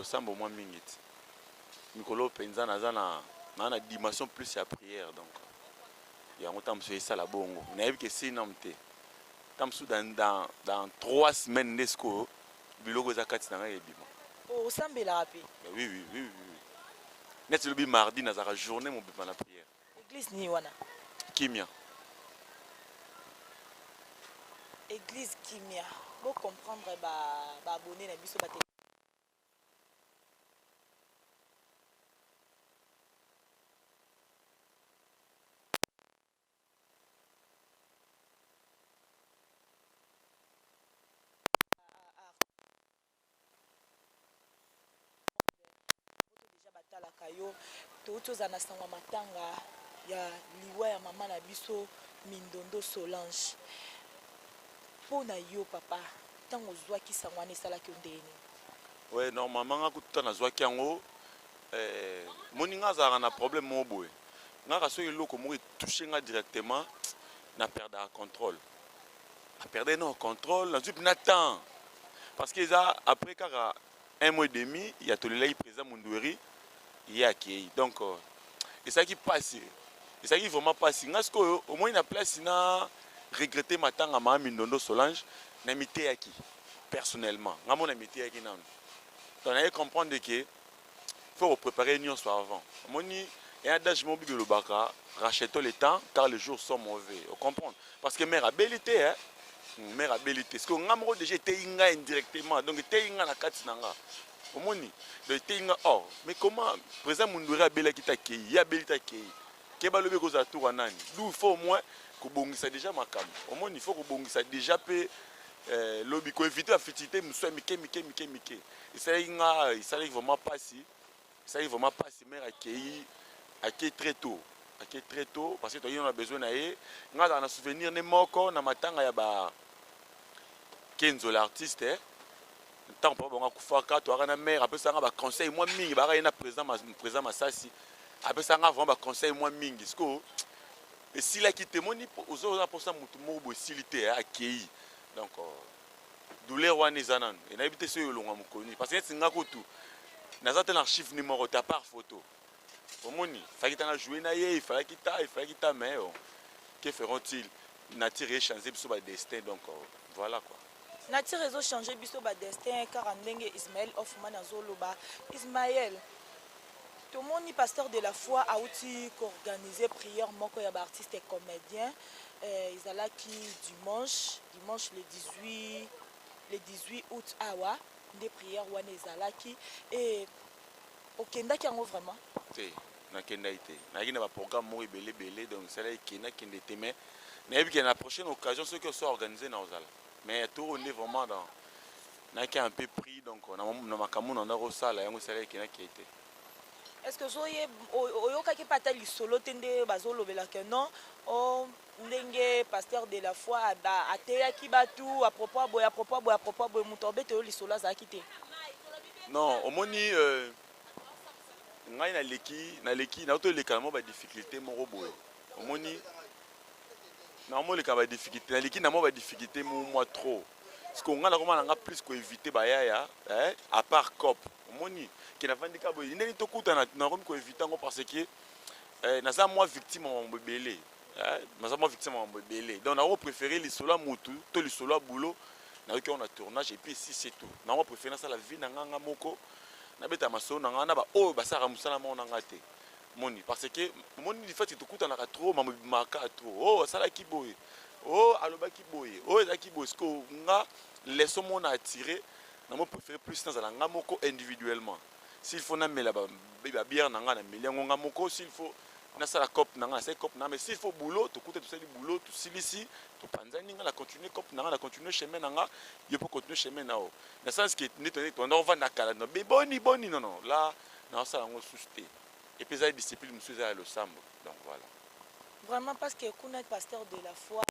losambo mwa mingi ti mikolo mpenza naza na naa na dimension plus ya prière donc yango ntango mosusu esala bongo nayebi ke sinam te ntango mosusu dans, dans, dans trois semaines nde sikoyo biloko eza kati na ngai ebima oh, osambelaka mpe eh oui, oui, oui, oui. neti lobi mardi nazalaka journée mobima na prière église nini wana kimia église kimia bocomprendre baabonne ba na biso bate touti ozala na sango ya matanga ya liwa ya mama na biso mindondo solange mpo na yo papa ntango ozwaki sango wana esalaki yo ndenge nini oui normalement nga kutu ntango nazwaki yango Eh moninga azalaka na problème moko boye nga ka soki eloko moko etouche nga directement na perdaka contrôle na perdaki nao contrôle nazwi mpena temps parce que eza après kaka un mois et demi ya tolelaki président mundueri ye akei donc euh, ezalaki mpasi ezalaki vraiment mpasi nga sikoyo omoni na place na regrette matanga maa mindondo solange na miteyaki personnellement nga mona miteyaki nano donc naye comprendre ke il faut ko preparer nionso avant omoni un adage moko bible elobaka rachetons le temps car les jours sont mauvais o comprendre parce que mère abeli te hein hmm, mère abeli te sikoyo nga moko déjà eteyi nga indirectement donc eteyi nga na kati na nga omoni donc eteyi nga or oh, mais comment président mundwere abelaki te akei ye abeli te akei ke balobi ekozala tour ya nani d'où il faut au moins kobongisa déjà makambo omoni il faut kobongisa déjà mpe eh, lobi koevite bafitilité mosusu ya mike mike mike mike esalaki nga esalaki vraiment pasi esalaki vraiment pasi mère akei akei très tôt akei très tôt parce que toyaki na besoin na ye nga azalaka na souvenir ne moko na matanga ya ba kenzo l'artiste eh. ntango papa bango akufaka toyaka na mère apesaka nga baconseil mwa mingi bayaka ye na président président masasi apesaka nga vraiment baconseil mwa mingi sikoyo esilaki te moni oza oza mposa motu moko boye esili te akei donc euh, douleur wana eza nanu et nayebi te soki elonga mokolo nini parce que neti nga kutu naza te na archive ni moko te apart photo omoni faki ta na joue na ye ifalaki ta ifalaki ta mais oh, que feront-ils nature ye change biso ba destin donc oh, voilà quoi nature ezo change biso ba destin kaka ndenge ismael hoffman azoloba ismael tomoni pasteur de la foi auti koorganize prière moko ya baartiste comédien euh, ezalaki dimanche Dimanche le 18 le 18 aout awa nde prière wana ezalaki et okendaki yango vraiment te nakendaki te nayaki na baprogramme moko ebele ebele donc esalaki ke nakende te mais nayebi ke na prochaine occasion soki oso organise na ozala mais ya toro nde vraiment dans nayaki un peu pris donc na makambo na ndako osala yango esalaki ke nakei te est ce que ozoye oyokaki mpe ata lisolo te nde bazolobela ke non oh, ndenge pasteur de la foi ateyaki batu à propos ya boye à propos ya boye à propos ya boye moto abete yo lisolo azalaki te non omoni euh, ngai naleki naleki nauti olekana mwa badifficulté moko boye omoni naomoleka badifficulté naleki na mwa badifficulté mo mwa trop siko ngai nakoma na nga plus koevite bayaya eh, à part cop omoni ke navandi ka boye ndenge tokutana nakomi koevite yango parce que eh, naza mwa victime ya mambo ebele Eh, naza mwa victime mambo ebele donc nako préféré lisolo ya mutu to lisolo ya boulot nayoki yango na tournage et puis si c'est tout nako préféré nasala vie na nga nga moko nabeta masolo na nga na baoyo basalaka mosala moko na nga te moni parce que omoni lifati tokutanaka trop mambo ebimaka trop o oh, asalaki boye o oh, alobaki boye o oh, ezalaki boye siko nga leso moko na attire namo préféré plus nazala nga moko individuellement s'il faut na mela ba ba bière na nga na meli yango nga moko s'il faut na sala cop na nga na sali cop na nga mais s'il faut boulot to kuta to sali boulot to silisi to panzani nga na continuer cop na nga na continuer chemin na nga yo po continuer chemin na yo na sens que nde tondeki tondaki ovanda kala no be boni boni non non la na osala yango susu te et puis ezali discipline mosusu eza ya losambo donc voilà vraiment parce que kuna pasteur de la foi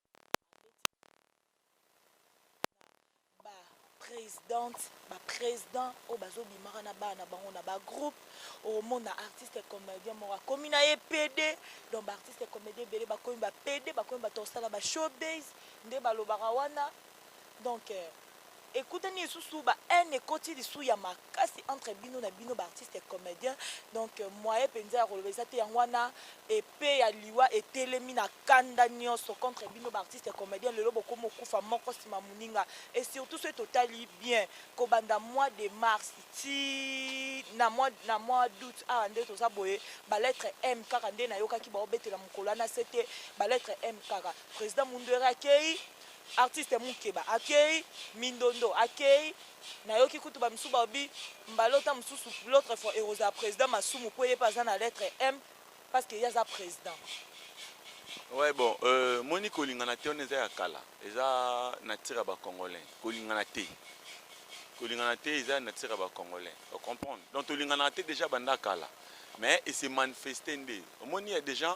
ba presidente ba president oyo bazo bimaka na bana na bango na ba groupe omona artiste comedien moko akomi na ye PD donc ba artiste comedien ebele bakomi ba PD bakomi bato kosala ba show base nde balobaka wana donc euh, ekutani lisusu ba haine ekoti lisusu ya mak kasi entre bino na bino ba artistes comediens donc moyen penza ya koloba eza te yango wana epee ya liwa etelemi na kanda nionso contre bino ba artistes comediens lelo bokomi okufa moko sima moninga et surtout soki totali bien kobanda mois de mars ti na mois na mois d'aout awa nde toza boye ba lettre m kaka nde nayokaki baobetela mokolo wana sete ba lettre m kaka president munduere akei artiste mukeba akei mindondo akei Nayoki kutu ba misusu balobi mbala oyo tango mosusu l'autre fois ekozala president masumu mpo ye mpe aza na lettre M parce que ye aza president. Ouais bon euh, moni kolingana te wana eza ya kala eza nature ya ba congolain kolingana te kolingana te eza ya nature ya ba congolain o comprendre donc tolinganaka te déjà banda kala mais et se manifester nde omoni ya déjà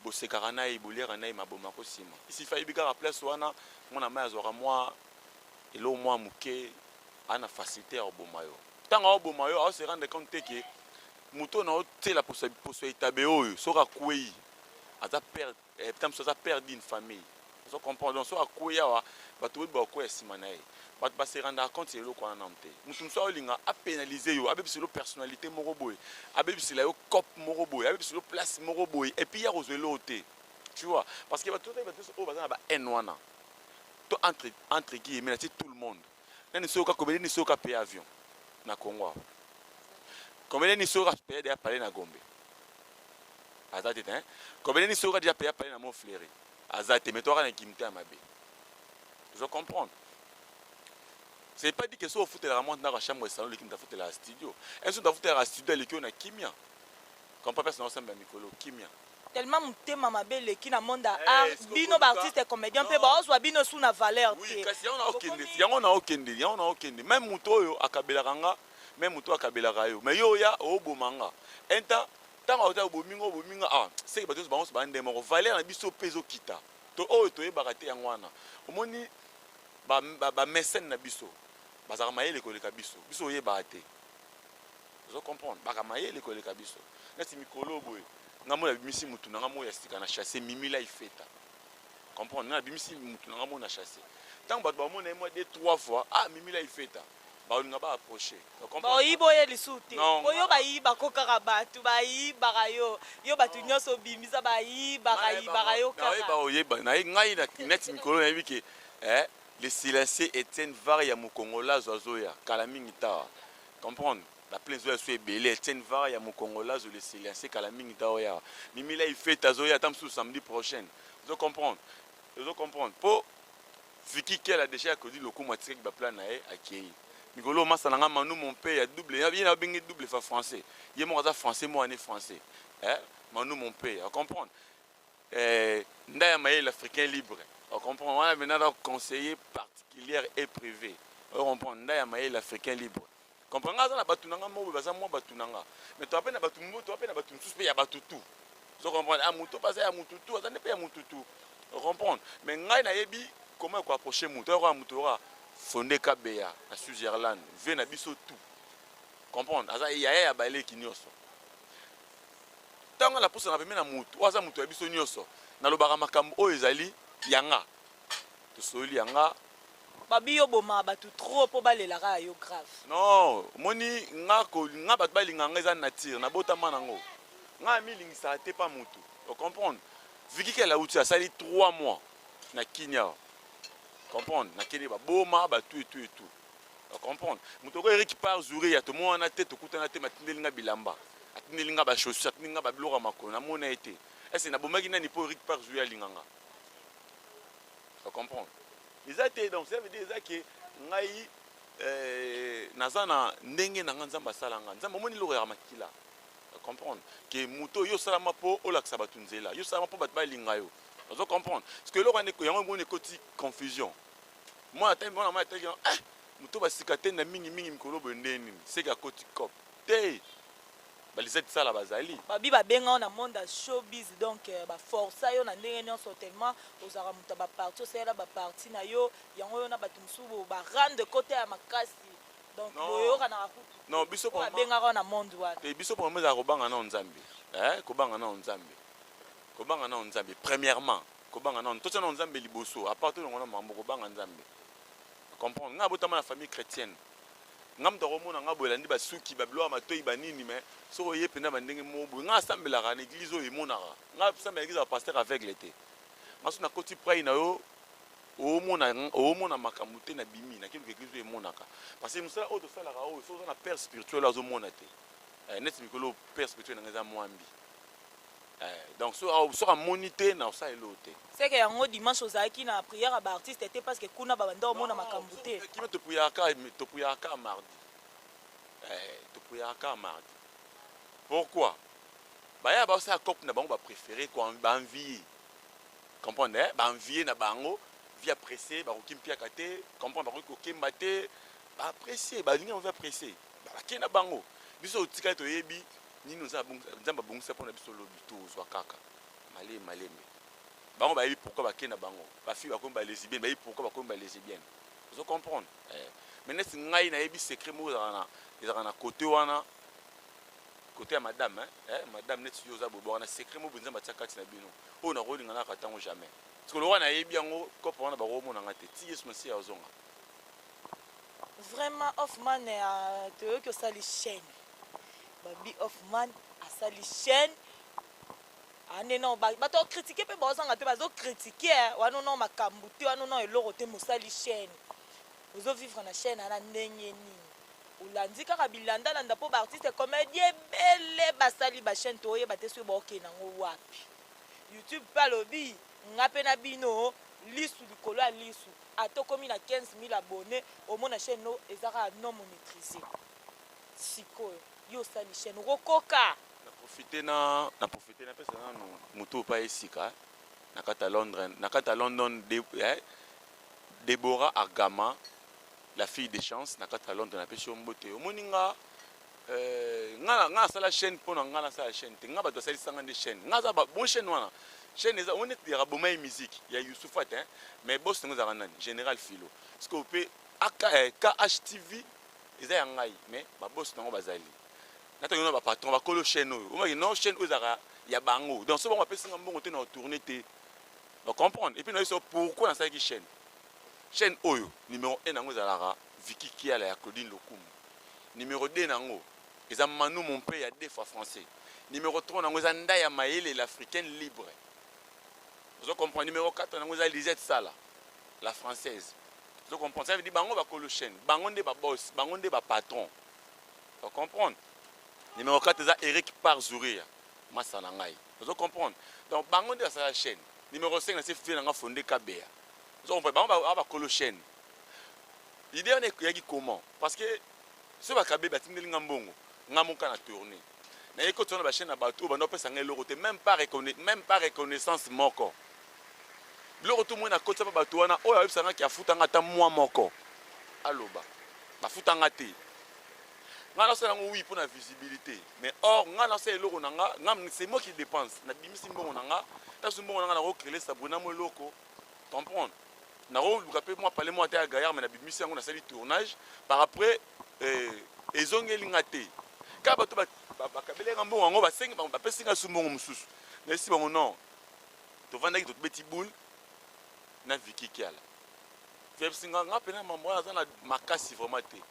bosekaka na ye boliaka na ye maboma kosima isifa ayebi kaka place wana mwana mai azwaka mwa eloko mua muke aza na facilite ya koboma yo tango azo boma yo azo se rendre compte te que moto oyo nazo tiela poso poso ya etabe oyo soki akueyi aza père eh, ta mosusu aza père d'une famille ozo comprendre donc soki akueyi awa bato boyebi bakokueya nsima na ye bato ba se rendaka compte ya eloko wana nanu te moto mosusu aolinga apenalize yo abebisa yo personnalité moko boye abebisela yo cop moko boye abebisa yo place moko boye epuis ye akozwa eloko te tu vois parce que bato bato oyo baza na ba haine wana to entre entre guillemets na ti tout le monde nani soka comédien ni soka paye avion na Congo awa comédien ni soka paye déjà parler na Gombe aza te hein comédien ni soka déjà paye parler na Montfleury aza te mais toi na kimte ya mabe je comprends c'est pas dit que so ofutelaka mwa ndako ya chambre esalon leki moto afutelaka studio est ce moto afutelaka studio aleki oyo na kimia comprend place na osambela mikolo kimia Tellement mutema mabe eleki na monde ya eh, art bino ba artistes comediens pe baozwa bino su na valeur te. Oui, kasi yango na okende, yango na okende, yango na okende. Même mutu oyo akabelaka nga, même mutu akabelaka yo. Mais yo oya oboma nga. Enta tango ota obomi nga, obomi nga. Ah, seki bato bango so bande moko. Valeur na biso pe ezo kita. To oyo toyebaka te yango wana. Omoni ba ba, ba mécène na biso bazalaka mayele koleka biso. Biso oyebaka te. ozo comprendre baka mayele koleka biso neti mikolo boye nga mona bimisi mutu nanga moya sika na chasse mimi la ifeta comprendre na bimisi mutu nanga mona chasse tango bato bamona ye mwa de trois fois ah mimi la ifeta baolinga ba approche baoyiba oye lisusu te po yo bayiba ko kaka bato bayibaka yo yo bato nyonso obimisa bayibaka yibaka yo kaka oyeba naye ngai neti mikolo nayebi ke eh, le silencieux Etienne Var ya mokongolazo azoya kala mingi tawa comprendre ba plein zoya so ebele Etienne Vara ya mukongola zo le silencer kala mingi ta oya Mimi la ifete azoya ata mususu samedi prochaine ozo comprendre ozo comprendre po Vicky Kela déjà Claudine Lokumu atikaki ba plan na ye akeyi mikolo masa na nga Manu mon père ya double ye na benge double fa français ye moko aza français moi ne français eh Manu mon père comprendre Eh, nda ya mayele africain libre. O comprend wana maintenant donc conseiller particulière et privé. O comprend nda ya mayele africain libre. Comprend nga na batu nanga mobo baza mwa batu nanga. Mais to apena batu mbo to apena batu msusu pe ya batu tout. Zo comprendre ah muto baza ya mutu tout, aza ne pe ya mutu tout. O comprendre. Mais ngai na yebi comment ko approcher muto. Oyo muto oyo Fonde Kabeya na Switzerland, vie na biso tout. Comprendre aza yaya ya baleki nioso. Ntango napusanaka pembeni na moto oyo aza moto ya biso nyonso, nalobaka makambo oyo ezali ya nga. Tosololi ya nga. Babi yo obomaka batu trop po balela kaka yo grave. Non omoni nga ko nga batu balinga nga eza nature na botama na ngo nga na milingisaka te pa mutu o comprendre Vicky kela uti asali 3 mois na kin awa comprendre na kende ba boma ba tout et tout et tout o comprendre moto ko Eric par Zuria tomonana te tokutana te matindeli nga bilamba atindeli nga ba chaussures atindeli nga ba biloko ya makolo namona ye te est-ce nabomaki nani mpo Eric par Zuria alinga nga o comprendre eza te donc ça veut dire eza ke ngai eh, naza na ndenge na nga nzambe asala nga nzambe omoni eloko ya makila comprendre ke moto oyo osalama mpo olakisa bato nzela yo osalama mpo bato balinga yo ozo comprendre parce que eloko yango yango ekoti confusion mwana atangi mwana mama atangi yango eh moto basika te na mingi mingi mikolo boye ndenge nini seke akoti cop te balisette sala bazali babi babenga yo na monde ya showbiz donc euh, baforsa yo na ndenge nyonso tellement ozalaka moto ya baparti osalela baparti na yo yango yo na bato mosusu barande kota ya makasi donc Non. boyokanaka kutu Non, biso Oyo vraiment- abengaka yo na monde wana te biso mpo mama ezala kobanga nao nzambe eh, kobanga nao nzambe kobanga nao nzambe premièrement Kobanga nanu totia nanu Nzambe liboso à part tolongola mambo kobanga Nzambe comprendre nga abotama na famille chretienne nga moto akomona nga boye elandi basuki babiloko ya matoyi banini mais soki oye mpenza bandenge moko boye nga asambelaka na eglise oyo emonaka nga asambela eglise ya pasteur aveugle te nga soki nakoti prai na yo oomona oomona makambo te nabimi nake luka eglise oyo emonaka parce que mosala oyo tosalaka oyo soki oza na père spirituel oyo azomona te eh, neti mikolo père spirituel na nga eza mwambi Eh, donc so au so amoni te na osa elo te. Seke yango dimanche ozalaki na prière ba artistes te parce que kuna ba banda omona makambu te. Kima to prière ka to prière ka mardi. Eh, to prière ka mardi. Pourquoi? Baya ba osa cop na bango ba préféré ko ba envie. Comprendre eh? Ba envie na bango via pressé ba ko kimpiaka te, comprendre ba ko kemba te. Ba pressé, ba linga via pressé. Balaki na bango, Biso totikali toyebi nini oza Nzambe abongisa mpo na biso lobi, tozwa kaka malembe malembe. Bango bayebi pourquoi bake na bango. Ba filles bakomi ba lesbiennes, bayebi pourquoi bakomi ba lesbiennes. Ozo comprendre? Eh. Mais neti ngai nayebi secret moko ezalaka na ezalaka na côté wana côté ya madame hein? Eh, madame neti yo oza bobo wana secret moko Nzambe atia kati na bino. Oyo nakolinga naka tango jamais. Parce que lokola nayebi yango, kopo wana bakomona ngai te. Ti Yesu Masiya azonga. Vraiment Hoffman toyoki osali chaîne babi Hoffman asali chaîne ane nao bato ya kritike mpe baozanga te bazo kritike eh, wana nao makambo te wana nao eloko te mosali chaîne ozovivre na chaîne ana ndenge nini olandi kaka bilandalanda mpo baartiste comédie ebele basali bachaîne toyeba te soki baokei nango wapi youtube mpe alobi nga mpe na bino lisu likolo ya lisu Ata okomi na 15000 abonnes omona chaine no eza kaka non monetrise sikoyo yo osali chaine okokoka? Na profite na na profite na pesa nanu mutu oyo pa ye sika na kati ya Londres na kati ya London de eh Deborah Argama la fille de chance na kati ya Londres na pesi yo mbote omoni nga Eh, nga nga asala chaîne pona nga na sala chaîne te nga bato asali sanga nde chaîne nga za ba bon chaîne wana chaîne eza on est ya kaboma ye musique ya Youssoufat hein mais boss ngo zaka nani général philo parce que pe KHTV eh, eza ya ngai mais ba boss nango bazali na tango na ba patron ba kolo chaîne oyo on va non chaîne oyo zaka ya bango donc so bango apesi nga mbongo te na tourner te ba comprendre et puis na yeso pourquoi na sala ki chaîne chaîne oyo numéro 1 nango zalaka Vicky kiala ya Claudine lokumu numero deux nango eza Manu mon père ya deux fois français numero trois nango eza Ndaya mayele l'africaine libre ozo comprendre numero quatre nango eza Lisette sala la française ozo comprendre ça veut dire bango bakolo chaine bango nde ba boss bango nde ba patron ozo comprendre numero quatre eza Eric par Zuria masa na ngai ozo comprendre donc bango nde basala chaine numero cinq na se fille na nga fonde kabeya ozo comprendre bango ba bakolo chaine idée wana eyaki comment parce que soki bakabe batindeli nga mbongo nga moka na tourne naye kotisa na bachaine ya bato oyo banda kopesa nga eloko te meme pas meme pas reconnaissance moko biloko tu moi nakotisa mpe bato wana oyo ayebisa nga ke afuta nga ata mwa moko aloba bafuta nga te nga nasala yango wi mpo na visibilité mais or nga nasala eloko na nga nga c'est moi qui dépense nabimisi mbongo na nga nasusu mbongo na nga nakokrele sabrina mo eloko comprendre nakoluka mpe mwa pale mwa ata ya gayar me nabimisi yango nasali tournage par après eh, ezongeli nga te kaka bato bakabeli nga mbongo yango basengi bango bapesi nga su mbongo mosusu nayesi bango non tovandaki tobeti boule na viki kiala vepsi nga nga mpena mambo wana aza na makasi vraiment te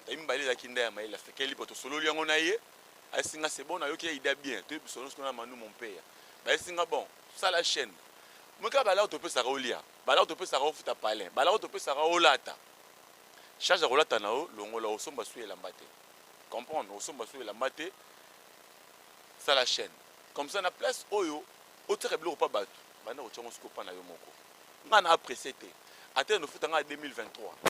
ngai mibale ezalaki nda ya mayele asekeli po tosololi yango na ye ayesi nga se bon nayoki ya ida bien toyebi biso nyonso kuna manu mompeya bayesi nga bon Sala chaine meka balao topesaka olia balao topesaka ofuta palin balao topesaka olata charge ya kolata na yo longola osomba su elamba te comprendre osomba su elamba te sala chaine comme ça na place oyo otiaka biloko pa bato banda kotya ngo sikoyo pa na yo moko ngai na apresse te ata eno ofuta ngai 2023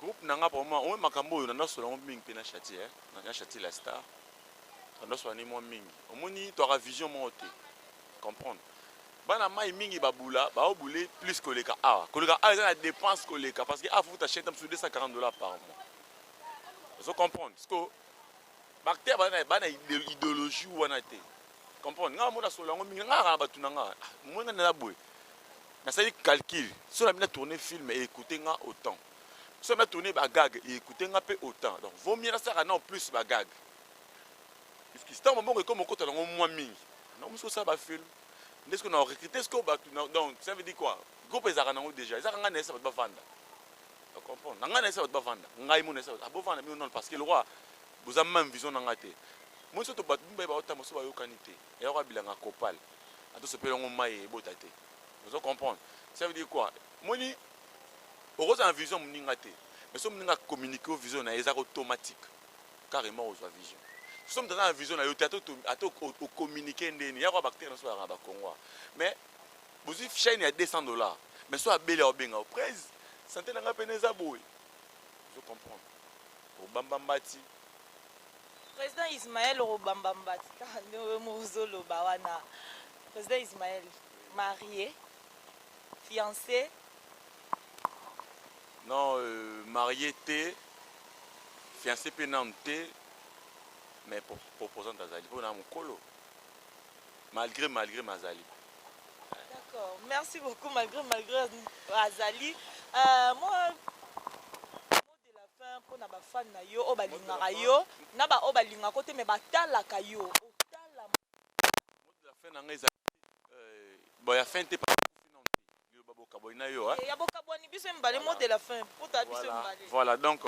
Groupe na nga vraiment oyo makambo oyo nanda sola ngo mingi pe na Shati eh na Shati la star nanda sola ni mwa mingi omoni to aka vision moko te comprendre bana mai mingi ba bula ba o bule plus koleka awa koleka awa eza na dépense koleka parce que awa futa chaîne tam su 240 dollars par mois ozo comprendre siko Bacteur ba na ba na ideologie wana te. Comprendre? Nga mona solo yango mingi nga na batu na nga. Ah, mona na boye. Na sali calcul. Solo mina tourner film et écouter nga autant. Solo mina tourner ba gag et écouter nga pe autant. Donc vaut mieux na saka na plus ba gag. Parce que tant bongo comme okota nango mwa mingi. Na musu sala ba film. Nde ce qu'on a recruté ce qu'on batu donc ça veut dire quoi? Groupe ezaka nango déjà. Ezaka nga na esa batu ba vanda. comprendre nanga na esa bato bavanda ngai mona esa bato abovanda ah, bino nano parce que lokwa Boza meme vision nanga te. Omoni soto batu mibale bazo tamba soto bayokani te eya kwa bilanga copal ata osopeli yango mayi ebota te ozo comprendre ça veut dire quoi omoni okozala na vision moninga te mais soki moninga a communique yo vision na ye eza automatique carrément ozwa vision soki moto aza na vision na yo te ata ocommunique nde nini yako bactere na so yaka bakongo mais bozwi chaine ya 200 dollars mais so abeli aobenga yo prese sante na ngai mpena eza boye ozo comprendre obamba mbati. President Ismael okobamba mbati kaka nde yo moko ozoloba wana President Ismael marie fiance. Non euh, marie te fiance mpe nanu te mais proposante azali mpo na mokolo malgre malgre mazali D'accord, merci beaucoup malgré malgré azali euh, moi mpo na bafane na yo oyo balingaka yo na baoyo balingaka yo te me batalaka yo otala fin na ngai ezali euh, boya fin te liloba bokabwani na yo eh, ya bokabwani biso mibale mot de la fin mpo ta biso mibale voilà donc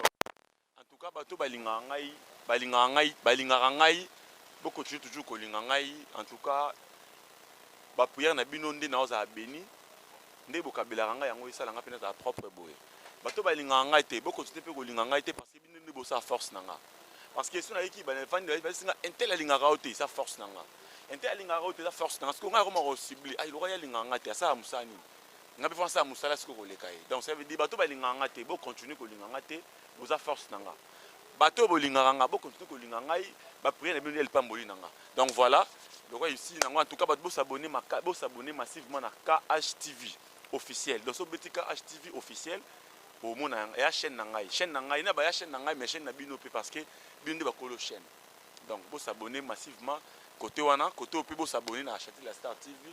En tout cas bato oyo balingaka ngai balingaka ngai balingaka ngai bo continuer toujours kolinga ngai en tout cas ba prière na bino nde naozala beni nde bokabelaka ngai yango esala ngai mpe nazala propre boye bato oyo balingaka ngai te bo continuer mpe kolinga ngai te parce que bino nde bosala force na nga parce que so nayeki bana efandi bayebisi nga intel alingaka yo te eza force na nga intel alingaka yo te eza force na nga sikoyo ngai akoma kosibli ai lokola ye alingaka ngai te asala mosala nini ngai mpe fo nasala mosala sikoyo koleka ye donc ça veut dire bato oyo balingaka ngai te bo continuer kolinga ngai te boza force na nga bato oyo bolingaka nga bokontinue kolinga ngai bapriere na bino nde lipamboli na nga donc voilà lokola esi nango en tout cas bato bosabone bosabone massivement na KHTV officiel donc so beti KHTV officiel omona ya chaîne na ngai chaîne na ngai na baya chaîne na ngai mais chaîne na bino mpe parce que bino nde bakolo chaîne donc bosabone massivement kote wana kote oyo mpe bosabone na chatel ya star tv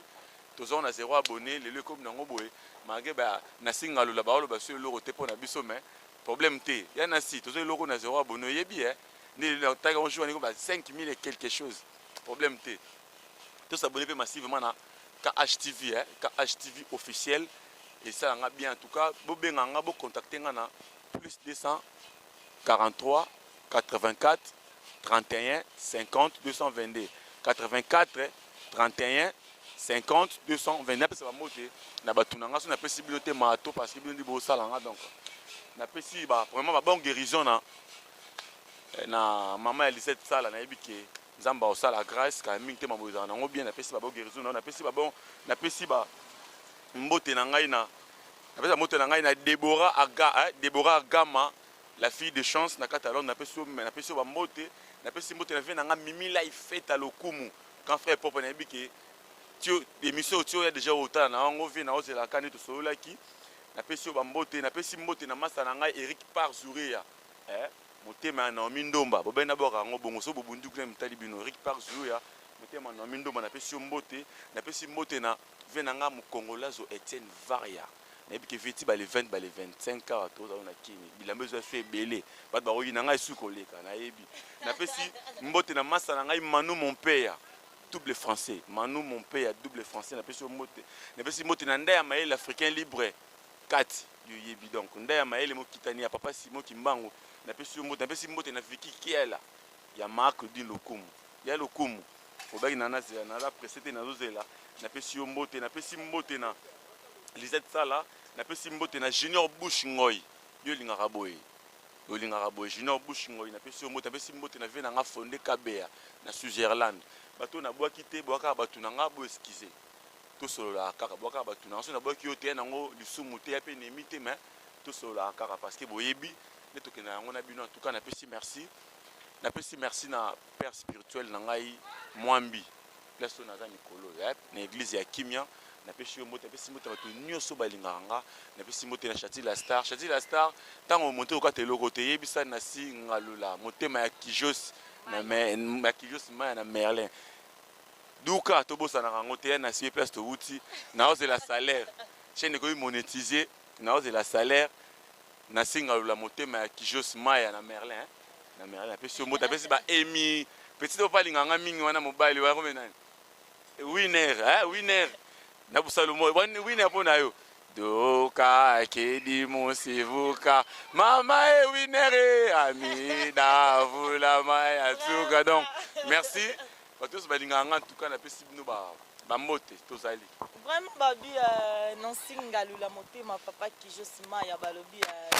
Tozonga na zero abonne lelo ekomi nango boye malgre ba nasi ngalula baoloba biso eloko te mpo na biso mais problème te ya nasi tozo eloko na zero abonne oyebi eh nde lelo nataki yango jour wana ekomi ba 5000 et quelque chose problème te to s'abonner mpe massivement na KHTV eh KHTV officiel esala nga bien en tout cas bobenga nga bo contacter nga na plus 243 84 31 50 222 84 31 50 220 napesa bambote na bato na ngai so napesi bino te mato parce que bino ndi bosala nga donc napesi ba vraiment ba bon guérison na eh, na mama ya lisette sala nayebi ke nzambe akosala grâce kala mingi te maboye ezala nango bien napesi ba bon guérison na napesi ba bon napesi ba mbote na ngai na napesi mbote na ngai na debora aga eh, debora agama La fille de chance na kati ya Londres, napesi yo napesi yo ba mbote, napesi mbote na vie na nga Mimi Life Feta Lokumu. Grand frère Popo nayebi ke tio emission tio ya déjà otala na yango vie na ozela kani tosololaki. Napesi yo ba mbote, napesi mbote na masta na ngai Eric Par Zureya. Eh, motema ya Naomi Ndomba, bobele nabwaka yango bongo soki bobundi kuna mitali bino. Eric Par Zureya, motema ya Naomi Ndomba napesi yo mbote, napesi mbote na vie na nga Mukongolazo Etienne Varia. nayebi ke veti bale 20 bale 25 awa toza na kini bilamba ezo esu ebele bato bakoki na ngai esu koleka nayebi napesi mbote na masa na ngai manu mompeya double français manu mompeya double français napesi yo mbote napesi mbote na ndai ya mayele africain libre kati yoyebi donc ndai ya mayele mokitani ya papa simo kimbangu napesi yo mbote napesi mbote na viki kiela Ya Marc Claudine lokumu Ya lokumu Obaki na na zela naza presse te nazo zela Na pesi yo mbote Na pesi mbote na Lisette Sala Na pesi mbote na Junior Bouche Ngoy Yo olingaka boye Olingaka boye Junior Bouche Ngoy Na pesi yo mbote Na pesi mbote na vieux na nga Fonde Kabeya Na Switzerland Bato oyo na bwaki te Boya kaka batu na nga Bo excuser To sololaka kaka Boya kaka batu na nga Soki na bwaki yo te Y'a nango lisumu te Y'a pe enemi te Mais to sololaka kaka Parce que boyebi Nde tokendaka yango na bino En tout cas na pesi merci napesi merci na père spirituel na ngai mwambi place oyo naza mikolo oyo eh, na eglise ya kimia napesi yo mbote napesi mbote bato nyonso balingaka nga napesi mbote na chati la star chati la star ntango omonte okata eloko te yebisa na si ngalula motema ya kijos ya kijos maya na merlin duka tobosanaka yango te ya na si place towuti naozela salaire chaine ekomi monetise Naozela salaire na singa lula motema ya kijos maya na merlin na merlin apesi yo mbote apesi ba emi petit oyo palinga nga mingi wana mobali wana kome nani winner eh winner na busalu moyo wani winner mpo na yo doka kedi musivuka mama e winner e amida vulama ya suka donc merci Bato nyonso balingaka nga ntuka napesi bino ba bambote tozali vraiment babi uh, eh, nansi ngalula motema papa kijo sima ya balobi uh,